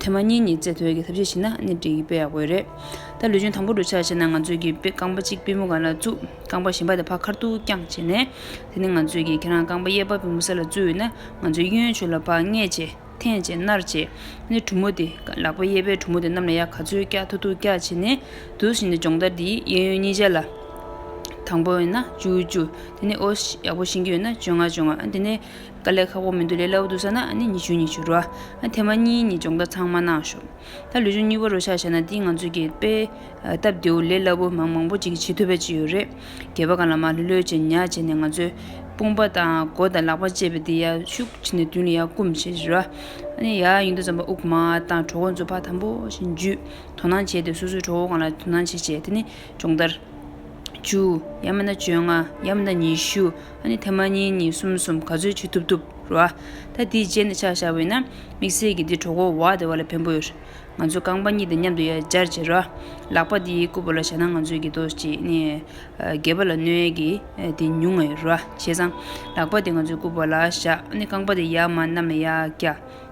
ཐེངས་མ་གཉིས་ཉིས་བརྩེགས་ཐོལ་གྱིས་ཐབས་ཤེས་བྱས་ན་སྣེ་འཁྲིད་ཀྱི་དཔེ་ཡག་པོ་རེད། ད་ལུས་སྦྱོང་དང་པོ་འགྲོ་འཆར་བྱས་ན་ང་ཚོས་ཀྱི་དཔེ་རྐང་པ་གཅིག་པི་མོ་ག་ལ་བཙུགས། རྐང་པ་གཞན་པ་དེ་ཕ་ཁར་ཐུག་རྐྱང་བྱས་ནས། དེ་ནི་ང་ཚོས་ཀྱི་ཁྱེད་རང་རྐང་པ་གཡས་པ་པི་མོ་ས་ལ་བཙུགས་ཡོད་ན་ང་ཚོས་གཡོན་ཆོས་ལ་ཕག་སྔས་བྱས། ཐེངས་བྱས་སྣར་བྱས། སྣེ་གྲུ་མོ་དེ། ལག་པ་གཡས་པའི་གྲུ་མོ་དེ་རྣམས་ལ་ཡ་ག་ཚོད་རྐྱ་ཐུག་ཐུག་རྐྱ་བྱས་ནས། དུས་བཞིན་དུ་སྦྱོང་བརྡར་འདི་གཡས་གཡོན་གཉིས་ཆ་ལ། དང་པོ་ཡིན་ན་བཅུ་བཅུ། དེ་ནི་ཨོ། ཡག་པོ་ཤེས་ཀྱི་ཡོད་ན་བཅོ་ལྔ་བཅོ་ལྔ། དེ་ནི། དཀའ་ལས་ཁག་པོ་མི་འདུག་ལས་སླ་བོ་འདུག་ས་ན་ནི་ཉི་ཆུང་ཉི་ཆུ་རོ། དེ་མ་གཉིས་ནི་སྦྱོང་བརྡར་ཚང་མ་གནང་ཞོར། ད་ལུས་སྦྱོང་གཉིས་པོ་རོ་ཆགས་བྱས་ན་འདི་ང་ཚོས་གྱེས་པས། སྟབས་བདེ་བོ་ལས་སླ་བོ་མང་མང་པོ་ཅིག་བྱེད་ཐུབ་པའི་ཅི་ཡོད་རེད། གྱེས་པ་གང་ལ་མ་ལྷོད་ལྷོད་བྱས་ཉག་བྱས་ནས་ང་ཚོས། དཔུང་པ་དང་མགོ་དང་ལག་པ་བཅས་པའི་དེ་ཡར་ཤུགས་ཕྱིན་ནས་མདུན་ལ་ཡར་བསྐུམ་བྱེད་ཅི་རོ། ཡར་ཡར་ཡིན་དུས་རྩམ་པ་དབུགས་མང་བ་དང་གྲོག་མགོ་མཛུབ་བག་དམ་པོ་བཞིན་འཇུས། དོ་སྣང་བྱས་ཏེ་སོ་སོའི་གྲོག་མགོ་གང་ལ་དོ་སྣང་བྱེད་བྱེད་དེ་ནི་སྦྱོང་བརྡར། བཅུ། ཡར་མི་ཟླ་བཅོ་ལྔ། ཡར་མི་ཟླ་ཉི་ཤུ། ཨ་ནི་ཐེངས་མ་གཉིས་གཉིས་གསུམ་གསུམ་ག་ཚོད་བྱེད་ཐུབ་ཐུབ་རོ། ད་དེའི་རྗེས་ནས་ཆགས་བཞག་བས་ན་དམིགས་བསལ་གྱིས་འདི་གྲོགས་པོ་བ་དེ་བ་ལ་ཕན་པོ་ཡོད། ང་ཚོ་རྐང་པ་གཉིས་དང་མཉམ་དུ་ཡར་འབྱར་བྱེད་རོགས། ལག་པ་འདི་རྐུ་བ་ལ་བཞག་ན་ང་ཚོས་གྱི་དོགས་ཅི་ནས། རྒས་པ་ལ་གནོད་གི་དེ་ཉུང་ངེས་རོ། བྱས་ཙང། ལག་པ་དེ་ང་ཚོས་རྐུ་བ་ལ་བཞག་ཨ་ནི་རྐང་པ་དེ་ཡར་མར་གནམ་ལ་ཡར་བཀྱགས།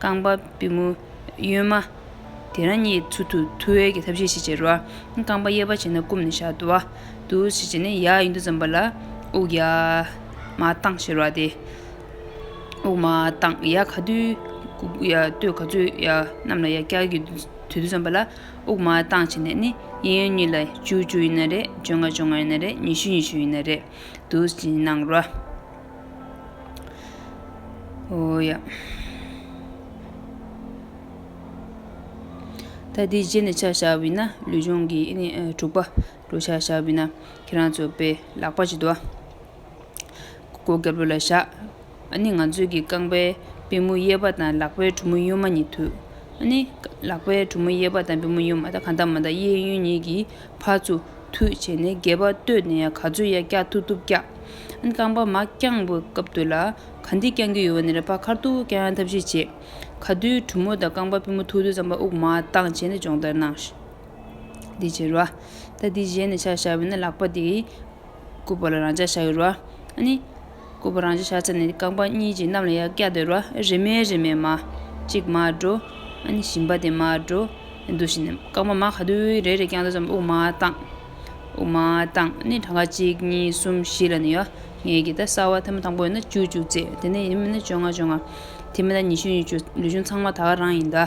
རྐང་པ་པུས་མོ་གཡོན་མ། དེ་རང་གཉིས་ཚུར་ཐུག་ཐུ་ཝེར་གྱི་ཐབས་ཤེས་ཤིག་བྱས། རྐང་པ་གཡས་པ་བྱས་ན་བསྐུམ་ནས་བཞག་དུ་བ། དུ་བ་ཞིག་བྱས་ནས་ཡར་གཡུག་མདའ་ཙམ་པ་ལ་དབུགས་ཡར་མར་བཏང་ཞེས་རོ་སྟེ། དབུགས་མར་བཏང་ཡར་ག་དུས་ག་ཚོད་ཡར་གནམ་ལ་ཡར་བསྐྱལ་གྱི་དུས་དུ་ཙམ་པ་ལ་དབུགས་མར་བཏང་བྱས་ནས་ནི་གཡས་གཡོན་གཉིས་ལ་བཅུ་བཅུ་ཡིན་ན་རེ་བཅོ་ལྔ་བཅོ་ལྔ་ཡིན་ན་རེ་ཉི་ཤུ་ཉི་ཤུ་ཡིན་ན་རེ་དུ་བཞིན་གནང་རོ། ད་དེའི་རྗེས་ནས་ཕྱག་བྱ་བས་ན་ལུས་སྦྱོང་གི། དྲུག་པ། འགྲོ་ཕྱག་བྱ་བས་ན་ཁྱེད་རང་ཚོ་པའི་ལག་པ་ཅིག་དུ། སྒོ་སྐྱ་བོད་ལ་བཞག། ནི་ང་ཚོས་ཀྱི་རྐང་པའི་པུས་མོ་གཡས་པ་དང་ལག་པའི་གྲུ་མོ་གཡོན་མ་གཉིས་མཐུད། ནི། ལག་པའི་གྲུ་མོ་གཡས་པ་དང་པུས་མོ་གཡོན་མ་དང་གང་དག་མ་དང་གཡས་གཡོན་གཉིས་ཀྱིས། བ་ཚུ་ཐུད་བྱས་ནས་སྒལ་པ་བཏོད་ནས་ག་ཚོད་ཡ་སྐྱག་ཐུབ་ཐུབ་སྐྱག། རྐང་པ་མ་བརྐྱངས་པའི་སྐབས་དུ་ལ། ག་འདི་བརྐྱང་གི་ཡོད་བ་ནི་རེ་ཕ་ཁར་ཐུག་ཀྱང་ཡང་ཐབས་ཤེས་བྱེད། ག་དུས་གྲུ་མོ་དང་རྐང་པ་པུས་མོ་ཐུག་དུས་རྩམ་པ་དབུགས་མ་བཏང་བྱས་ནས་སྦྱོང་བརྡར་གནང། འདི་བྱེད་རོགས། ད་འདི་བཞེས་ནས་ཕྱག་བཞག་བས་ན་ལག་པ་འདི། སྐུད་པ་ལ་རང་འཇགས་བྱ་འོས་རོ། ནི། སྐུད་པ་རང་འཇགས་བྱ་ཚར་ནས་རྐང་པ་གཉིས་ཀྱིས་གནམ་ལ་ཡར་བཀྱགས་འདོད་རོ། རེ་མེད་རེ་མེད་མ། གཅིག་མར་འགྲོ། ནི་ཞིམ་པ་དེ་མར་འགྲོ། འདུག་བཞིན། རྐང་པ་མ་ག་དུས་རེ་རེ་བཀྱགས་འདོད་ཙམ་དབུགས་མ་བཏང། དབུགས་མ་བཏང། ནི་གྲངས་ཀ་གཅིག་གཉིས་གསུམ་བཞི་ལ་ནི་ཡོ། ངེད་ཀྱིས་ད་གསར་བ་ཐེངས་མ་དང་པོ་ཡིན་ན་བཅུ་བཅུ་བརྩེགས། དེ་ནས་ཡིན་མིན་ན་བཅོ་ལྔ་བཅོ་ལྔ། དེ་མིན་ན་ཉི་ཤུ་ཉི་ཤུ། ལུས་ཆུང་ཚང་མ་ད་ག་རང་ཡིན་ད།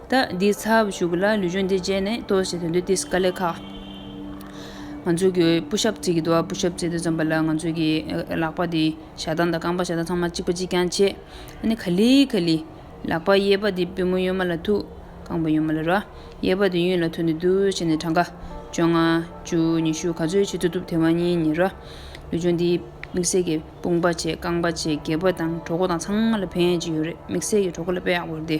ད་འདིའི་ཚབ་ཞུ་གི་ལ་ལུས་གཞུང་འདི་བརྗེད་ནས་ལྟོས་ཞེས་དོན་དུ་དེ་སྐད་ལས་ཁག། ང་ཚོ་གི་སྤུ་ཞབས་བརྩིགས་ཀྱི་འདུག་སྤུ་ཞབས་བརྩིགས་ཏེ་འཛོམས་པ་ལ་ང་ཚོ་གི་ལག་པ་དེ་ཞག་གདང་དང་རྐང་པ་ཞག་གདང་ཚང་མ་གཅིག་པ་གཅིག་རྐྱང་བྱས། ཨ་ནི་ག་ལི་ག་ལི། ལག་པ་གཡས་པ་དེ་པུས་མོ་གཡོན་མ་ལ་ཐུག། རྐང་པ་གཡོན་མ་ལ་རོལ། གཡས་པ་དེ་གཡོན་ལ་ཐུག་ནས་བསྡུ་བྱས་ནས་གྲངས་ཀ། བཅོ་ལྔ། བཅུ། ཉི་ཤུ་ག་ཚོད་བྱེད་ཐུབ་ཐུབ་དེ་བ་གཉིས་གཉིས་རོལ། ལུས་གཞུང་འདི་དམིགས་བསལ་གྱི་དཔུང་པ་བྱས་རྐང་པ་བྱས་གད་པ་དང་གྲོག་མགོ་དང་ཚང་མ་ལ་ཕན་ཡོན་ཅི་ཡོད་རེད་དམིགས་བསལ་གྱི་གྲོག་མགོ་ལ་དཔེ་ཡག་པོ་རེད་དེ།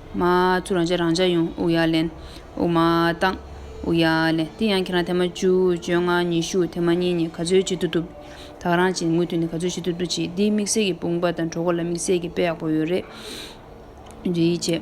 མ། ཚུར་རང་བྱ་རང་བྱ་ཡོང་ཨུ་ཡག་ལན། ཨུ་མ་བཏང། ཨུ་ཡག་ལན། དེ་ཡང་ཁྱེད་རང་ཐེངས་མ་བཅུ་བཅོ་ལྔ་ཉི་ཤུ་ཐེངས་མ་གཉིས་ནི་ག་ཚོད་བྱེད་ཏུ་ཐུབ། ཐག་རང་བྱེད་དངུལ་ཐོན་ནས་ག་ཚོད་བྱེད་ཏུ་ཐུབ་བྱེད་འདིའི་དམིགས་བསལ་གྱི་དཔུང་པ་དང་གྲོགས་པོ་ལ་དམིགས་བསལ་གྱི་དཔེ་ཡག་པོ་ཡོད་རེད། འབྲེལ་ཡིད་ཆེས།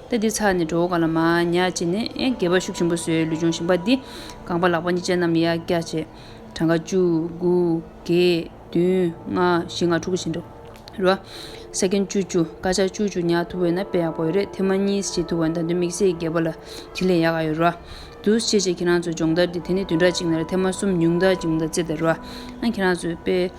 ལྟ་འདི་ཚར་ནས་འགྲོ་ག་ལ་མ་ཉག་ཅེས་ནས་སྒལ་པ་ཤུགས་ཆེན་པོ་བཟོས་ལུས་ཅུང་ཞིམ་པ་འདི་སྒང་པ་ལག་པ་གཉིས་ཅན་རྣམས་ཡར་བཀྱག་བྱས། གྲངས་ཀ་བཅུ། དགུ། བརྒྱད། བདུན། ལྔ། བཞི་ལྔ་དྲུག་གི་བཞིན་དུ། རོ། ས་ཁེན་བཅུ་བཅུ། སྐར་ཆ་བཅུ་བཅུ་ཉག་ཐུག་བས་ན་དཔེ་ཡག་པོ་ཡོད་རེད་ཐེངས་མ་གཉིས་བྱེད་ཐུག་བས་ད་དུང་དམིགས་བསལ་སྒལ་པ་ལ་དེ་ལས་ཡག་ག་ཡོད་རོ། དུས་ཕྱེད་ཕྱེད་ཁྱེད་རང་ཚོའི་སྦྱོང་བརྡར་འདི་དེ་ནས་བདུན་ཕྲག་གཅིག་ནས་ལ་ཐེངས་མ་གསུམ་ཉུང་མཐའ་གཅིག་མཐའ་བརྩེགས་ཏེ་རོ། ཨང་ཁྱེད་རང་ཚོའི་དཔེ།